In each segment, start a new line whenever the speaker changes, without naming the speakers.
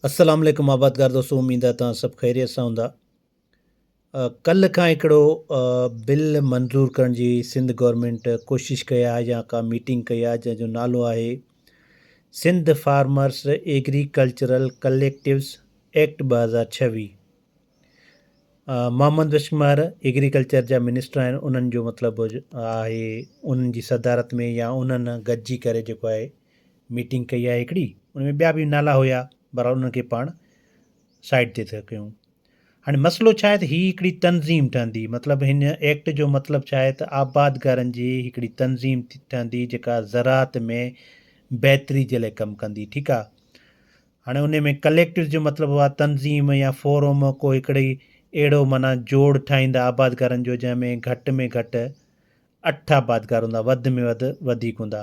السلام عليڪم آبادگار دوستو اميد آ توهان سڀ خيريت سان هوندا ڪلھ کان هڪڙو بل منظور ڪرڻ جي سنڌ گورنمنٽ ڪوشش ڪئي آ يا ڪا ميٽنگ ڪئي آ جنهن جو نالو آهي Sindh farmers agricultural collectives act ٻه هزار ڇويھ محمد وشمهر ايگريڪلچر جا منسٽر آهن انهن جو مطلب آهي انهن جي صدارت ۾ يا انهن گڏجي ڪري جيڪو آهي ميٽنگ ڪئي آهي هڪڙي ان ۾ ٻيا به نالا هيا بهرحال انهن کي پاڻ سائيڊ تي ٿا ڪيون هاڻي مسئلو ڇا آهي ته هي هڪڙي تنظيم ٺهندي مطلب هن ايڪٽ جو مطلب ڇا آهي ته آبادگارن جي هڪڙي تنظيم ٺهندي جيڪا زراعت ۾ بهتري جي لاء ڪم ڪندي ٺيڪ آهي هاڻي ان ۾ ڪليڪٽرز جو مطلب هو آهي تنظيم يا فوروم ڪو هڪڙي اهڙو معنيٰ جوڙ ٺاهيندا آبادگارن جو جنهن ۾ گهٽ ۾ گهٽ اٺ آبادگار هوندا وڌ ۾ وڌ وڌيڪ هوندا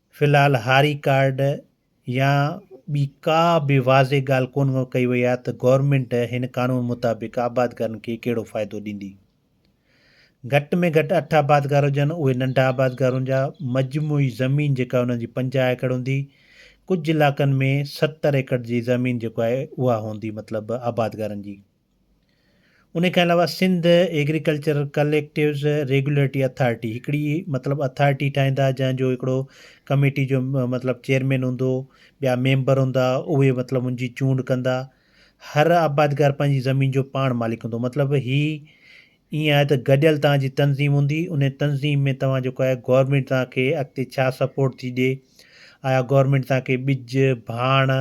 في الحال هاري ڪارڊ يا ٻي ڪا به واضح ڳالهه ڪونه ڪئي وئي آهي ته گورنمينٽ هن قانون مطابق آبادگارن کي ڪهڙو فائدو ڏيندي. گهٽ ۾ گهٽ اٺ آبادگار هجن اهي ننڍا آبادگار هونجا، مجموعي زمين جيڪا انهن جي پنجاهه ايڪڙ هوندي، ڪجهه علائقن ۾ ستر ايڪڙ جي زمين جيڪو آهي اها هوندي مطلب آبادگارن جي. ان کان علاوه Sindh agriculture collectives regulatory authority هڪڙي مطلب اٿارٽي ٺاهيندا جنهن جو هڪڙو ڪميٽي جو مطلب چيئرمين هوندو ٻيا ميمبر هوندا اهي مطلب ان جي چونڊ ڪندا هر آبادگار پنهنجي زمين جو پاڻ مالڪ هوندو مطلب هي ائين آهي ته گڏيل توهان جي تنظيم هوندي ان تنظيم ۾ توهان جيڪو آهي گورنمينٽ توهان کي اڳتي ڇا سپورٽ ٿي ڏي آيا گورنمينٽ توهان کي ٻج ڀاڻ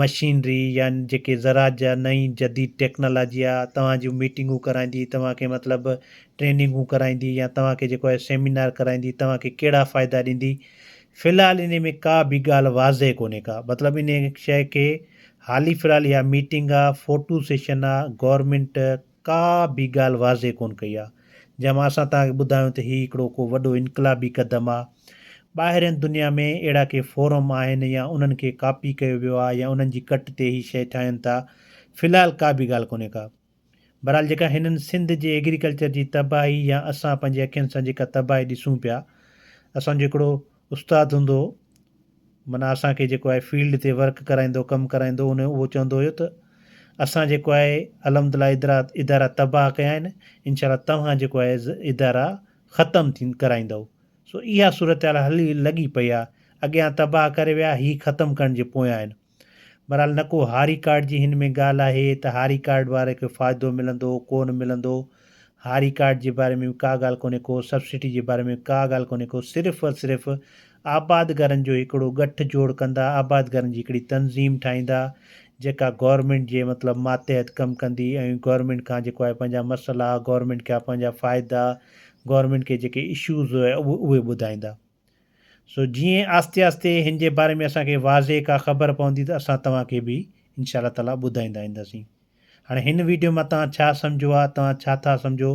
مشينري يا جيڪي زراعت جا نئين جديد ٽيڪنالاجي آ توهان جون ميٽنگون ڪرائيندي توهان کي مطلب ٽريننگون ڪرائيندي يا توهان کي جيڪو آهي سيمينار ڪرائيندي توهان کي ڪهڙا فائدا ڏيندي في الحال انهي ۾ ڪا به ڳالهه واضح ڪونهي ڪا مطلب انهي شئي کي حالي في الحال اها ميٽنگ آ فوٽو سيشن آ گورمينٽ ڪا به ڳالهه واضح ڪونه ڪئي آهي جنهن مان اسان توهان کي ٻڌايون ته هي هڪڙو ڪو وڏو انقلابي قدم آهي. ٻاهرين دنيا ۾ اهڙا ڪي فورم آهن يا انهن کي ڪاپي ڪيو ويو آهي يا انهن جي ڪٽ تي هي شيء ٺاهين ٿا. في الحال ڪا به ڳالهه ڪونهي ڪا. بهرحال جيڪا هنن سنڌ جي ايگريڪلچر جي تباهي يا اسان پنهنجي اکين سان جيڪا تباهي ڏسون پيا اسان جو هڪڙو استاد هوندو هو معنيٰ اسان کي جيڪو آهي فيلڊ تي ورڪ ڪرائيندو ڪم ڪرائيندو هو انهو اهو چوندو هيو ته اسان جيڪو آهي الحمدلله ادرا ادارا تباهه ڪيا آهن انشاء الله توهان جيڪو آهي ادارا ختم ٿين ڪرائيندؤ سو اها صورتحال هلي لڳي پئي آهي اڳيان تباهه ڪري ويا هي ختم ڪرڻ جي پويان آهن بھرحال نه ڪو ھاري ڪارڊ جي ھن ۾ ڳالھ آھي ته ھاري ڪارڊ واري کي فائدو ملندو ڪو نه ملندو ھاري ڪارڊ جي باري ۾ به ڪا ڳالھ ڪونھي ڪو سبسڊي جي باري ۾ ڪا ڳالھ ڪونھي ڪو صرف ۽ صرف آبادگارن جو ھڪڙو ڳٺ جوڙ ڪندا آبادگارن جي ھڪڙي تنظيم ٺاھيندا جيڪا گورنمينٽ جي مطلب ماتحت ڪم ڪندي ۽ گورنمينٽ کان جيڪو آھي پنھنجا مسئلا گورنمينٽ کي پنھنجا فائدا گورنمينٽ کي جيڪي اشوز اھي ٻڌائيندا. سو جيئن آھستي آھستي ھن جي باري ۾ اسان کي واضح ڪا خبر پوندي ته اسان توھان کي به انشاء الله تعالي ٻڌائيندا اينداسين ھاڻي ھن ويڊيو مان توھان ڇا سمجھو آ توھان ڇا ٿا سمجھو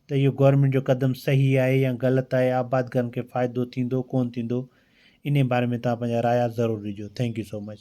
ته اھو گورنمينٽ جو قدم صحيح آھي يا غلط آھي آبادگارن کي فائدو ٿيندو ڪون ٿيندو انھي باري ۾ توھان پنھنجا رايا ضرور ڏجو ٿينڪ يو سو مچ.